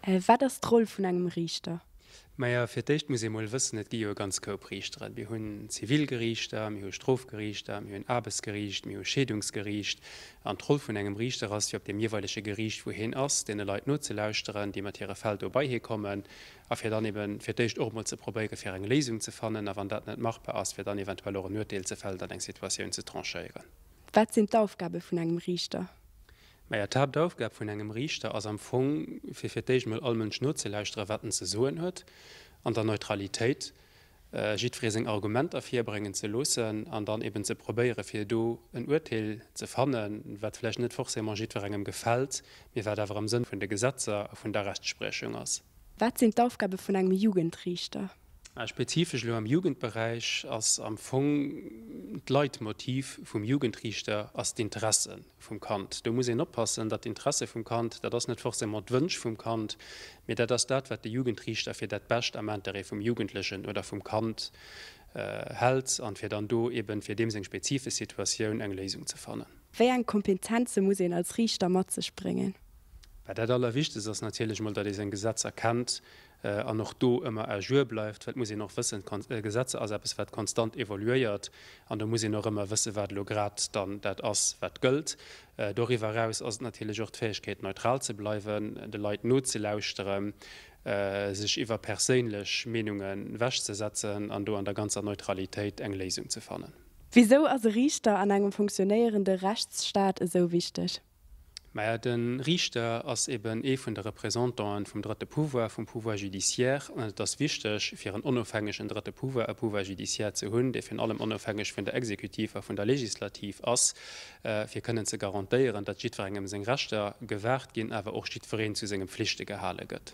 Wat ass d'Roll vun engem Riichter? Majo, fir d'éischt muss ee mol wëssen, et gi jo e ganz Koup Riichteren. Mir hunn Zivilgeriichter, mir hu Strofgeriichter, mir hunn Aarbechtsgeriicht, mir hu Scheedungsgeriicht. An d'Roll vun engem Riichter ass jo, op deem jeeweilege Geriicht, wou hien ass, deene Leit nozelauschteren, déi mat hire Fäll do bei hie kommen, a fir dann eeben fir d'éischt och emol ze probéieren, fir eng Léisung ze fannen, a wann dat net machbar ass, fir dann eventuell och en Urteel ze fällen an eng Situatioun ze tranchéieren. Wat sinn d'Aufgabe vun engem Riichter? Maja, d'Haaptaufgab vun engem Riichter ass am Fong, fir fir d'éischt emol all Mënsch nozelauschteren, wat en ze soen huet, an der Neutralitéit jiddweree seng Argumenter virbréngen ze loossen an dann eben ze probéieren, fir do en Urteel ze fannen, wat vläicht net forcément jiddwerengem gefält, mee wat awer am Sënn vun de Gesetzer a vun der Rechtspriechung ass. Wat sinn d'Aufgabe vun engem Jugendriichter? Spezifesch elo am Jugendberäich ass am Fong d'Leitmotiv vum Jugendriichter ass d'Interesse vum Kand. Do muss een oppassen, datt d'Interesse vum Kand, dat ass net forcément d'Wënsch vum Kand, mee dat ass dat, wat de Jugendriichter fir dat Bescht am Intérêt vum Jugendlechen oder vum Kand hält an fir dann do eeben fir deem seng spezifesch Situatioun eng Léisung ze fannen. Wéi eng Kompetenze muss een als Riichter mat sech bréngen? Dat Allerwichtegst ass natierlech emol, datt ee seng Gesetzer kennt an och do ëmmer à jour bleift, well et muss een och wëssen, d'Gesetzer ass eppes wat konstant evoluéiert an do muss een och ëmmer wëssen, wat elo grad dann dat ass wat gëllt. Doriwwer eraus ass et natierlech och d'Fäegkeet neutral ze bleiwen, de Leit nozelauschteren, sech iwwer perséinlech Meenunge wech ze setzen an do an der ganzer Neutralitéit eng Léisung ze fannen. Wisou ass e Riichter an engem funktionéierende Rechtsstaat esou wichteg? Maja, de Riichter ass eben ee vun de Représentanten vum drëtte Pouvoir, vum Pouvoir judiciaire, an et ass wichteg, fir en onofhängegen drëtte Pouvoir, e Pouvoir judiciaire ze hunn, dee virun allem onofhängeg vun der Exekutiv a vun der Legislativ ass, fir kënnen ze garantéieren, datt jiddwerengem seng Rechter gewahrt ginn, awer och jiddwereen zu senge Pflichte gehale gëtt.